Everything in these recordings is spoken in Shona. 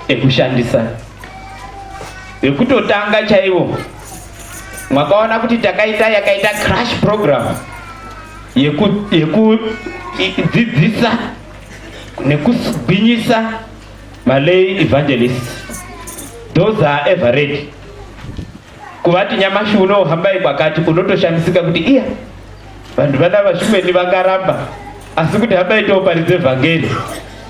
ekushandisa vekutotanga chaivo mwakaona kuti takaita yakaita crash program yekudzidzisa nekugwinyisa malay evangelist those are ever ready kuvati nyamashi uno hambai kwakati unotoshamisika kuti iya vanhu vana vashumeni vakaramba asi kuti hambai tooparidze vhangeri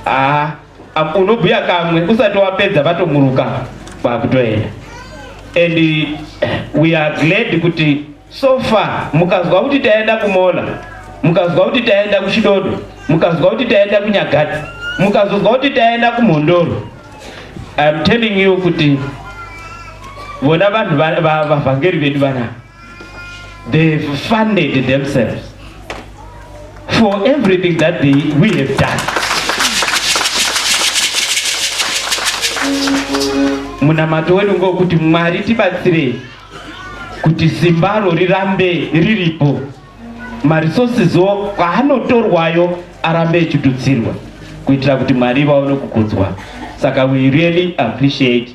aa ah. Apo unobhuya kamwe usati wapedza vatomuruka kwakutoenda. And we are glad kuti so far mukazwa kuti taenda kumola, mukazwa kuti taenda kuchidodo, mukazwa kuti taenda kunyagati, mukazozwa kuti taenda kumhondoro. I am telling you kuti vona vanhu vavhangeri vedu vanaa They've funded themselves for everything that they, we have done. Munamato wedu ngokuti Mwari tibatsirei kuti simbaro rirambe riripo maresources wo kwaanotorwayo arambe echitutsirwa kuitira kuti Mwari vaone kukudzwa. Saka we really appreciate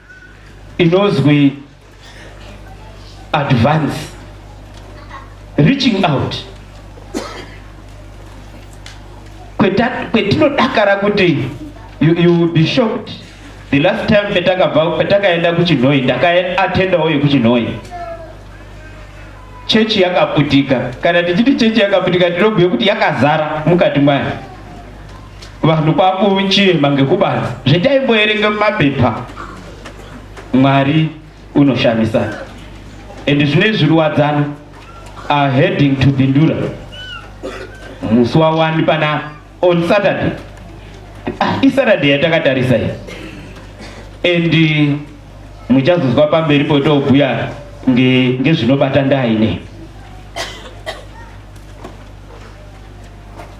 inozwi advance reaching out kwetinodakara kuti you, you will be shocked the last time petakabva petakaenda kuchinhoi ndakaatendawo yekuchinhoi chechi yakaputika kana tichiti chechi yakaputika tinobhuye kuti yakazara mukati mwayo Vanhu kwakuchema ngekubanza zvetaimboerenga mumapepa Mwari unoshamisa and zvine zviruwadzano are heading to Bindura musi wawani pana on Saturday ah, iSaturday yatakatarisa iyi and uh, muchazozwa pamberi potobhuya ngezvinobata nge ndaine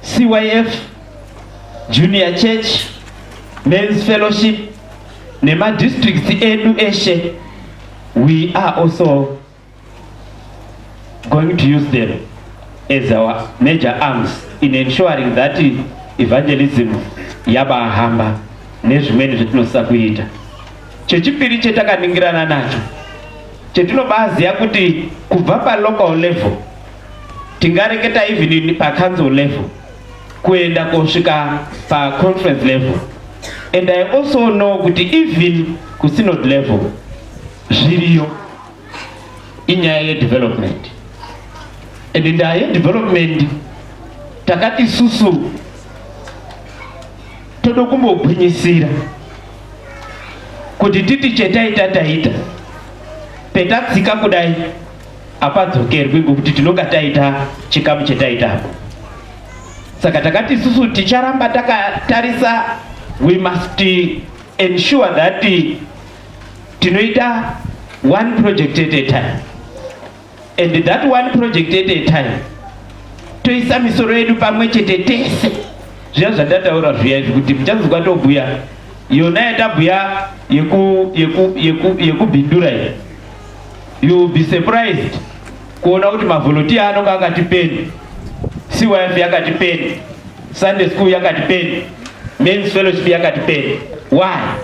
CYF, Junior Church, Men's Fellowship nemadistricts edu eshe we are also going to use them as our major arms in ensuring that evangelism yabahamba nezvimweni zvatinosisa kuita chechipiri chetakaningirana nacho chetinobaziva kuti kubva palocal level tingareketa even in pa council level kuenda kosvika pa conference level and i also know kuti even ku synod level zviriyo inyaya yedevelopment and nyaya yedevelopment takati susu toda kumbogwinyisira kuti titi chetaita taita petatsika kudai apadzokerwi ngokuti tinonga taita chikamu chetaita apo saka takati isusu ticharamba takatarisa we must ensure that tinoita one project at a time and that one project at a time toisa misoro yedu pamwe chete tese zviya zvandataura zviya izvi kuti muchazonzwa tobhuya yona yatabhuya yekubhindura yeku, yeku, yeku iyi You will be surprised kuona kuti mavolunteer anonga akati peni, CYF yakati peni, Sunday school yakati peni, men's fellowship yakati peni. Why?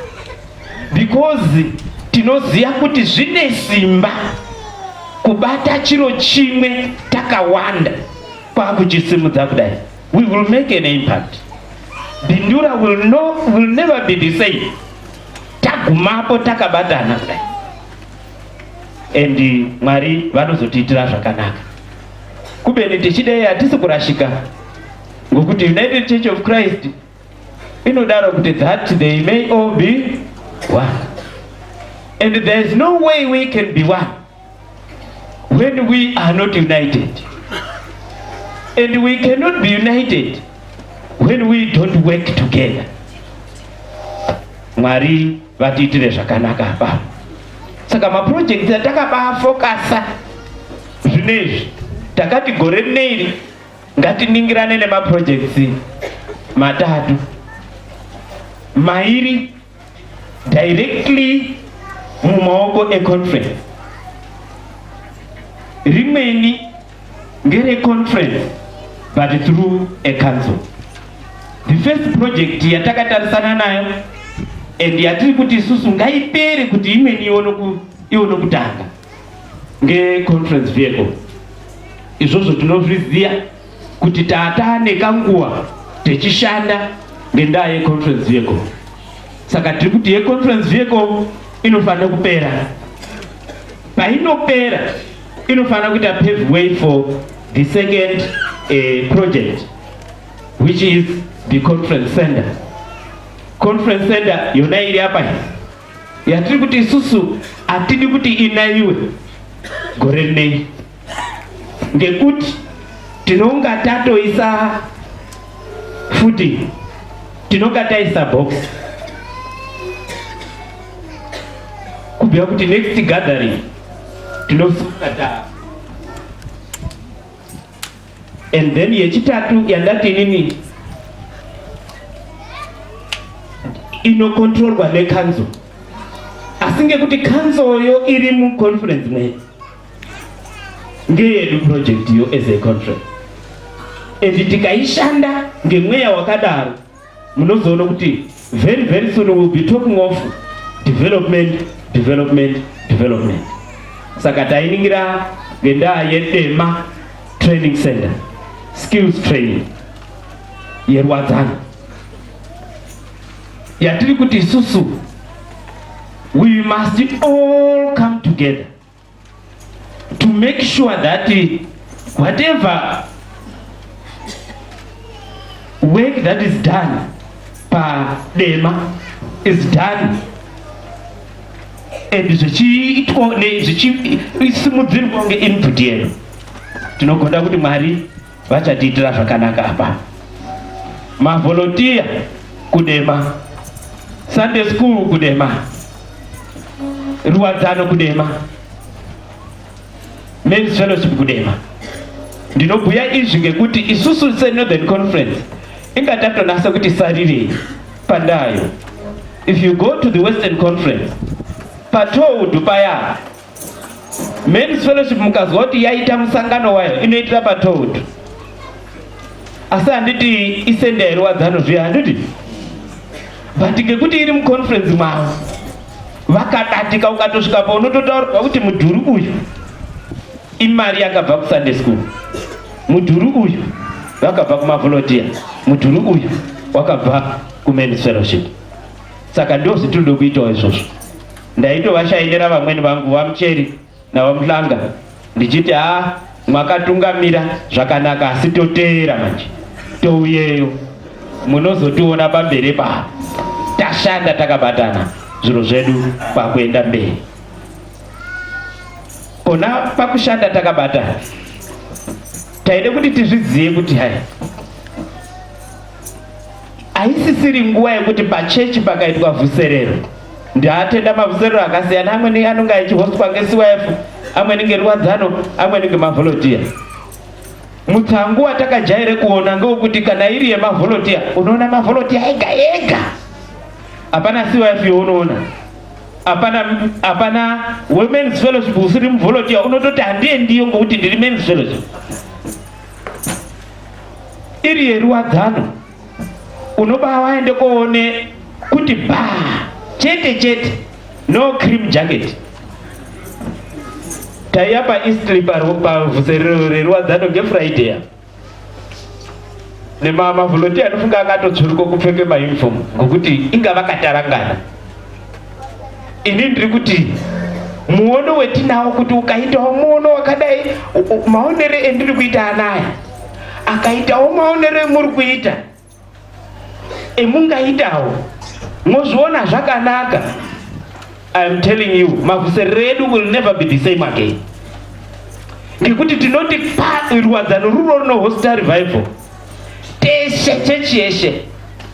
Because tinoziva kuti zvine simba kubata chiro chimwe takawanda kwakuchisimudza kudai. We will make an impact. Bindura will, no, will never be the same tagumapo takabatana kudai. and Mwari vanozotiitira zvakanaka kubeni tichidei hatisi kurashika ngokuti United Church of Christ inodaro kuti that they may all be one and there is no way we can be one when we are not united and we cannot be united when we don't work together Mwari vatiitire zvakanaka apa saka maprojekti atakabafokasa zvine izvi takati gore rine iri ngatiningirane nemaprojekti matatu mairi directly mumaoko econference rimweni Ngere conference but through a council. The first project yatakatarisana nayo and yatiri kuti isusu ngaipere kuti imweni ione kutanga ngeconference vehicle. Izvozvo tinozviziva kuti taataa nekanguva techishanda ngendaa yeconference vehicle. Saka tiri kuti yeconference vehicle inofanira kupera painopera inofanira kuita pave way for the second uh, project which is the conference center conference center yona iri apa yatiri kuti isusu hatidi kuti inaiwe gore rinei ngekuti tinonga tatoisa futi tinonga taisa box kubhuya kuti next gathering tinosunga taa and then yechitatu yandati inini inokontrolwa nekanzo asi ngekuti kanzoyo iri muconference mwedu ngeyedu project yo as a conference and tikaishanda ngemweya wakadaro munozoona kuti very very soon will be talking of development development development saka tainingira ngendaa yedema training center skills training yerwadzana yatiri kuti isusu we must all come together to make sure that whatever work that is done padema is done and zvichiitwa zvichisimudzirwa kunge input yedu tinogonda kuti mwari vachatiitira zvakanaka apa mavolontiya kudema sunday school kudema ruwadzano kudema men's fellowship kudema ndinobhuya izvi ngekuti isusu senorthern conference inga tatonasa kuti sarirei pandayo if you go to the western conference patoudhu paya Men's Fellowship mukazwa kuti yaita musangano wayo inoitira patold asi handiti isende yairwadzano zviya handiti but ngekuti iri muconference mavo vakadatika ukatosvika pa unototaurwa kuti mudhuri uyu imari yakabva kusunday school mudhuri uyu vakabva kumavolontiya mudhuri uyu wakabva kumen's fellowship saka ndozvitinoda kuitawo izvozvo Ndaitovashainira vamwene vangu vaMucheri naVaMuhlanga ndichiti haa ah, mwakatungamira zvakanaka asi toteera manje touyeyo munozotiona pamberi paa tashanda takabatana zviro zvedu pakuenda mberi pona pakushanda takabatana taide kuti tizvizive kuti hai haisisiri nguva yekuti pachechi pakaitwa vhuserero ndiatenda mavhuserero akasiyana amweni anonge achihostwa ngecif amweni ngerwadzano amweni ngemavholotiya mutsangu watakajaire kuona ngewekuti kana iri yemavholotiya unoona mavholotiya ega ega hapana cif younoona hapana hapana wemens fellowship usiri muvholotiya unototi handiye ndiyo ngokuti ndiri mens fellowship iri yeruwadzano unobaa waende koone kuti baa chete chete no cream jacket taiya paeastly pavhuse reruwadzano ngefriday ya nemamavholotiya anofunga akatotsvuruko kupfeke mauniform ngokuti inga vakatarangana Ini ndiri kuti muono wetinawo kuti ukaitawo muono wakadai maonero endiri kuita anaya akaitawo maonero emuri kuita emungaitawo mozviona zvakanaka iam telling you makuserero edu will never be the same again ngekuti tinoti pa rwadzano rurori nohosta revival teshe chechi yeshe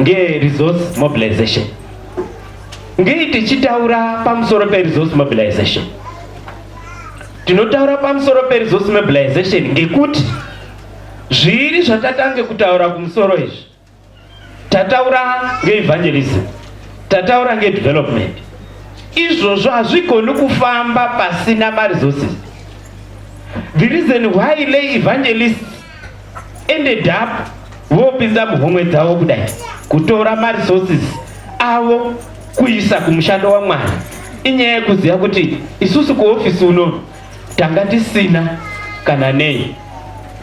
ngeresource mobilization ngei tichitaura pamusoro peresource mobilization tinotaura pamusoro peresource mobilization ngekuti zviiri zvatatange kutaura kumusoro izvi tataura ngeevangelism tataura ngedevelopment izvozvo hazvigoni kufamba pasina maresources the reason why lay evangelists ended up vopinza muhomwe dzavo kudai kutora maresources avo kuisa kumushando wamwari inyaya yekuziva kuti isusu kuhofisi unono tanga tisina kana nei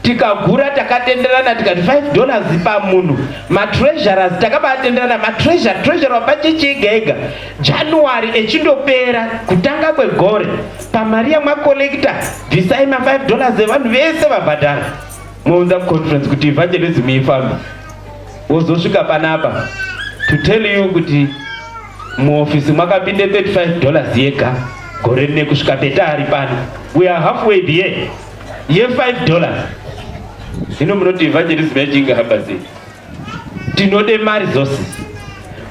tikagura takatenderana tikati 5 dollars pamunhu matreasurers takabatenderana matreasure treasure wapachechi ega ega january echindopera kutanga kwegore pamari yamakorekita bvisai ma 5 dollars evanhu vese vabhadhara mounza kuconference kuti evangelism ifamba wozosvika panapa to tell you kuti muofisi mwakapinde 35 dollars yega gore rine kusvika peta ari pano we are halfway there ye 5 dollars zvino munoti evangelism yachinge hamba sei tinode mari dzose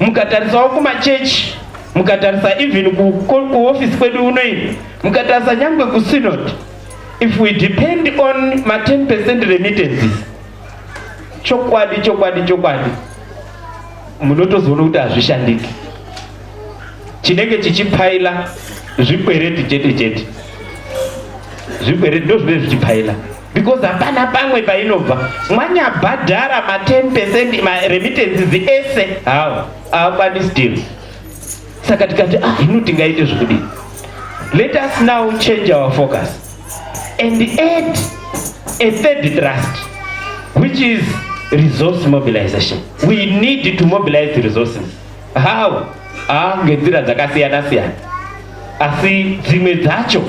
mukatarisawo kumachechi mukatarisa even kuofisi kwedu unoini mukatarisa nyangwe kusinod if we depend on ma 10 percent remittances chokwadi chokwadi chokwadi munotozoona kuti hazvishandiki chinenge chichipfaila zvikwereti chete chete zvikwereti ndozvinenge zvichipfaila because hapana pamwe painobva mwanyabhadhara ma 10 percent maremittances ese hawa hawakwanisi deal saka tikati ah hino tingaite zvekudii let us now change our focus and add a third trust which is resource mobilization we need to mobilize resources how ah ngenzira dzakasiyana siyana asi dzimwe dzacho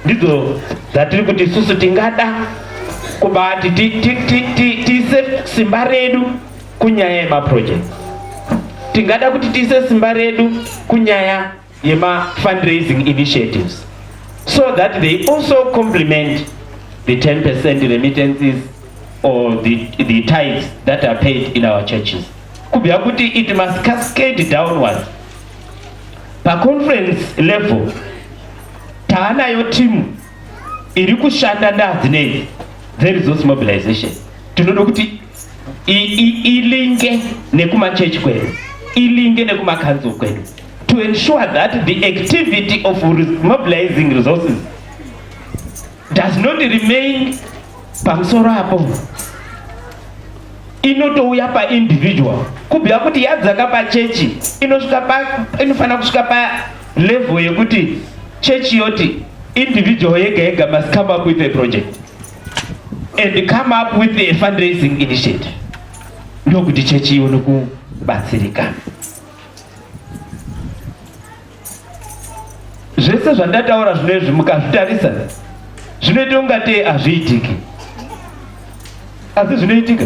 Ndidzo dzatiri kuti isusu tingada kubati tiise simba redu kunyaya yemaproject tingada kuti tiise simba redu kunyaya yemafundraising initiatives so that they also complement the 10 percent remittances or the, the tides that are paid in our churches kubva kuti it must cascade downwards paconference level taanayo timu iri kushanda ndaadzinei dzeresource mobilization tinoda kuti ilinge nekumachechi kwedu ilinge nekumakanzuru kwedu to ensure that the activity of mobilizing resources does not remain pamusoro apo inotouya paindividual kubhuya kuti yadzaka pachechi inofanira kusvika Level yekuti church yoti individual yega yega must come up with a project and come up with a fundraising initiative ndokuti chechi ione kubatsirikana zvese zvandataura zvino izvi mukazvitarisa zvinoita ungatei hazviitiki asi zvinoitika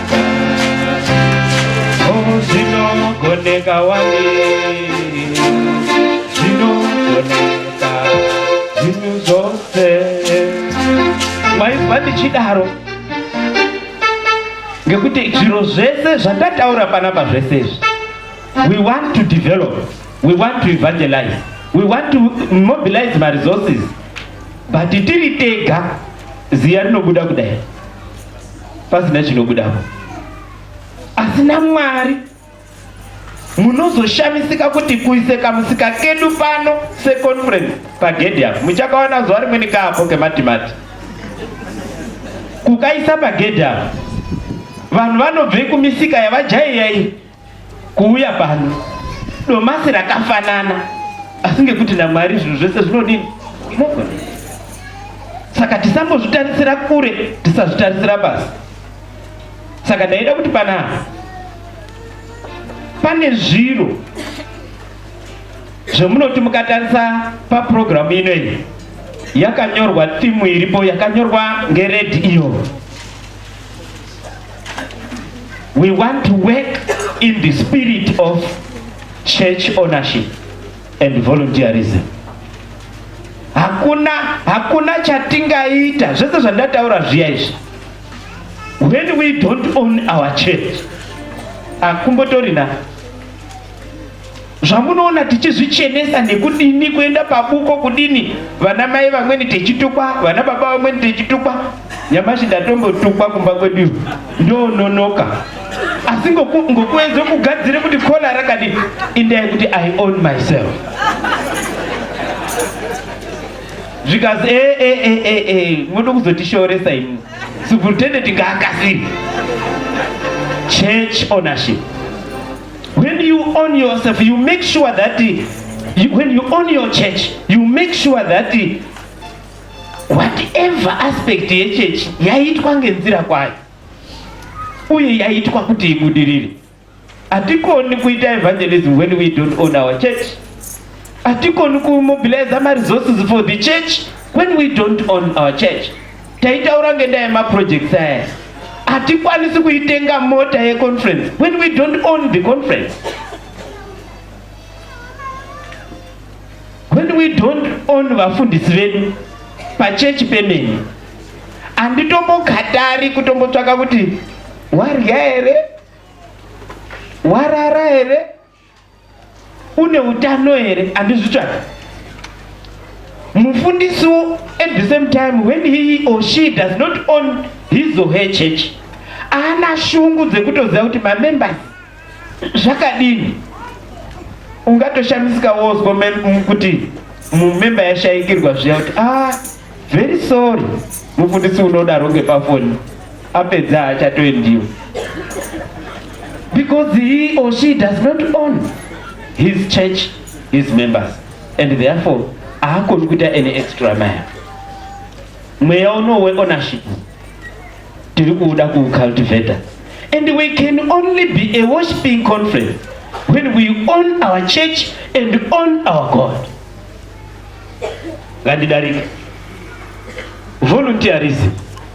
Zvinongoneka wani Zvinongoneka Zvinhu zvose Maibva ndichidaro ngekuti zviro zvese zvatataura panapa zvese izvi we want to develop we want to evangelize we want to mobilize maresources but tiri tega ziya rinobuda kudai pasina chinobudapo asi namwari munozoshamisika kuti kuise kamusika kedu pano seconference pagedhi apo muchakaona zuva rimweni kaapo kematimati kukaisa pagedhi apo vanhu vanobve kumisika yavajaiya iyi Kuuya pano domasi rakafanana asi ngekuti naMwari zvinhu zvese zvinodini mogona. Saka tisambozvitarisira kure, tisazvitarisira pasi. Saka ndaida kuti panapa pane zviro zvemunoti mukatarisa papurogiramu ino iyi yakanyorwa timu iripo yakanyorwa ngeredi iyo We want to work in the spirit of church ownership and volunteerism. Hakuna, hakuna chatingaita zvese zvandataura zviya izvi. When we don't own our church, akumbotorina zvamunoona tichizvichenesa nekudini kuenda pabuko kudini vana mai vamweni techitukwa vana baba vamweni techitukwa nyamashi ndatombotukwa kumba kwedu ndononoka asi ngokuedza kugadzira kuti kola rakadini indai kuti i own myself zvikazi eh, eh, eh, muda kuzotishooresa imi superintendent ngaakasiri church ownership When you own yourself, you make sure that you, when you own your church, you make sure that whatever aspect yechechi yaitwa ngenzira kwayo uye yaitwa kuti ibudirire. Hatikoni kuita evangelism when we don't own our church. Hatikoni kumobilize maresources for the church when we don't own our church. Taitaura ngendaa yemaprojects aya hatikwanisi kuitenga mota yeconference when we don't own the conference when we don't own vafundisi vedu pachechi pemene handitombokatari kutombotsvaka kuti warya here warara here une utano here andizvitsvaka mufundisi at the same time when he or she does not own his or her church ana shungu dzekutoziva kuti mamembers zvakadini ungatoshamisika wozwa kuti mumemba yashaikirwa zviya kuti ah very sorry mufundisi unodaro ngepafoni apedza haachatoendiyo because he or she does not own his church his members and therefore haakoni kuita any extra maya mweya uno weownership tiri kuuda kuucultivator and we can only be a worshiping conference when we own our church and own our god ngandidarike volunteerism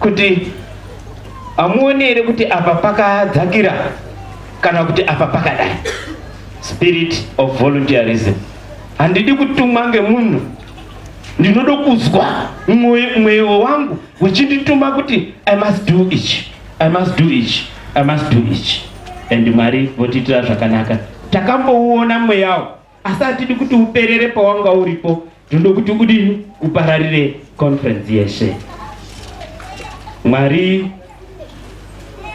Kuti hamuoni here kuti apa pakadzakira kana kuti apa pakadai? Spirit of volunteerism. Handidi kutumwa ngemunhu, ndinoda kuzwa mweyo wangu uchindituma kuti I must do ichi, I must do ichi, I must do ichi. And Mwari votiitira zvakanaka. Takamboona mweyawo asi hatidi kuti uperere pawanga uripo tinoda kuti udini upararire conference yeshe mwari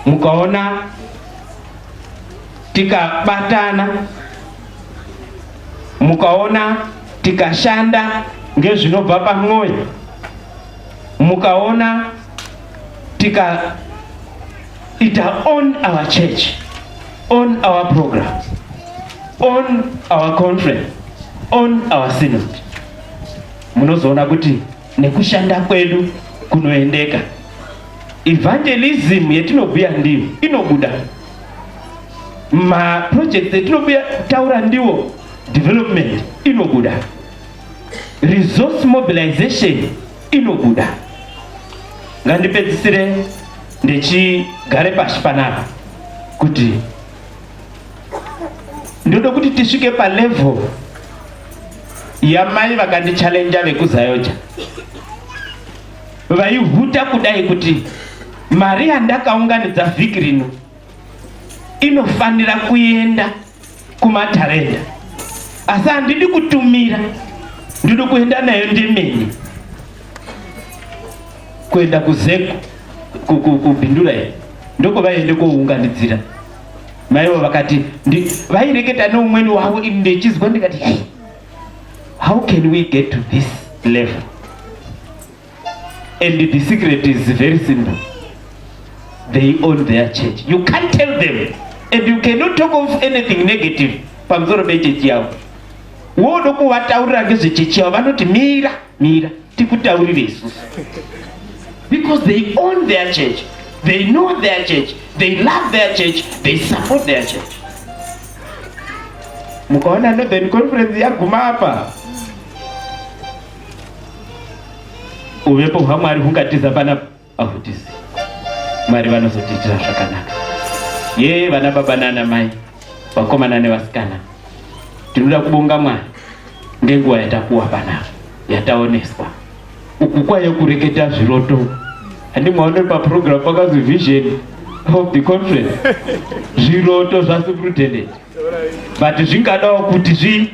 mukaona tikabatana mukaona tikashanda ngezvinobva pamwoyo mukaona tika It on our church, on our programs, on our conference, on our synod. Munozoona kuti nekushanda kwedu kunoendeka. Evangelism yetinobhuya ndiyo inobuda. Ma projects etinobhuya taura ndiwo development inobuda. Resource mobilization inobuda. Ngandipedzisire ndichigare pashi panapa kuti ndoda kuti tisvike palevel yamai vakandichallenja vekuzayoja vaihuta kudai kuti mari yandakaunganidza vhiki rino inofanira kuenda kumatarenda asi handidi kutumira ndiri kuenda nayo ndemene kuenda kuzeko kubhindura iyi ndoko vaiende kounganidzira maivo vakati vaireketa neumweni wavo ini ndechizwa ndikati hey, how can we get to this level And the secret is very simple. They own their church. You can't tell them. And you cannot talk of anything negative pamusoro pechechi yavo. Wodo kuvataurira ngezvechechi yavo vanoti mira, mira, tikutaurire isusu. Because they own their church. They know their church. They love their church. They support their church. Mukaona Northern Conference yaguma apa. uvepo hwamwari hungatiza pana ahutizi mwari vanozotiitira zvakanaka yee vana baba nana mai vakomana nevasikana tinoda kubonga mwari ngenguva yatakuwa panapa yataoneswa uku kwaye kureketa zviroto handi mwaone paprogram pakazi vision of the conference zviroto zvasuprutendent but zvingadawo kuti zvi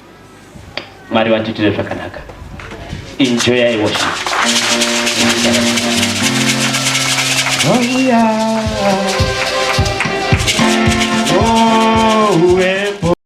Mwari vatiitire zvakanaka. Enjoy worship. Hallelujah.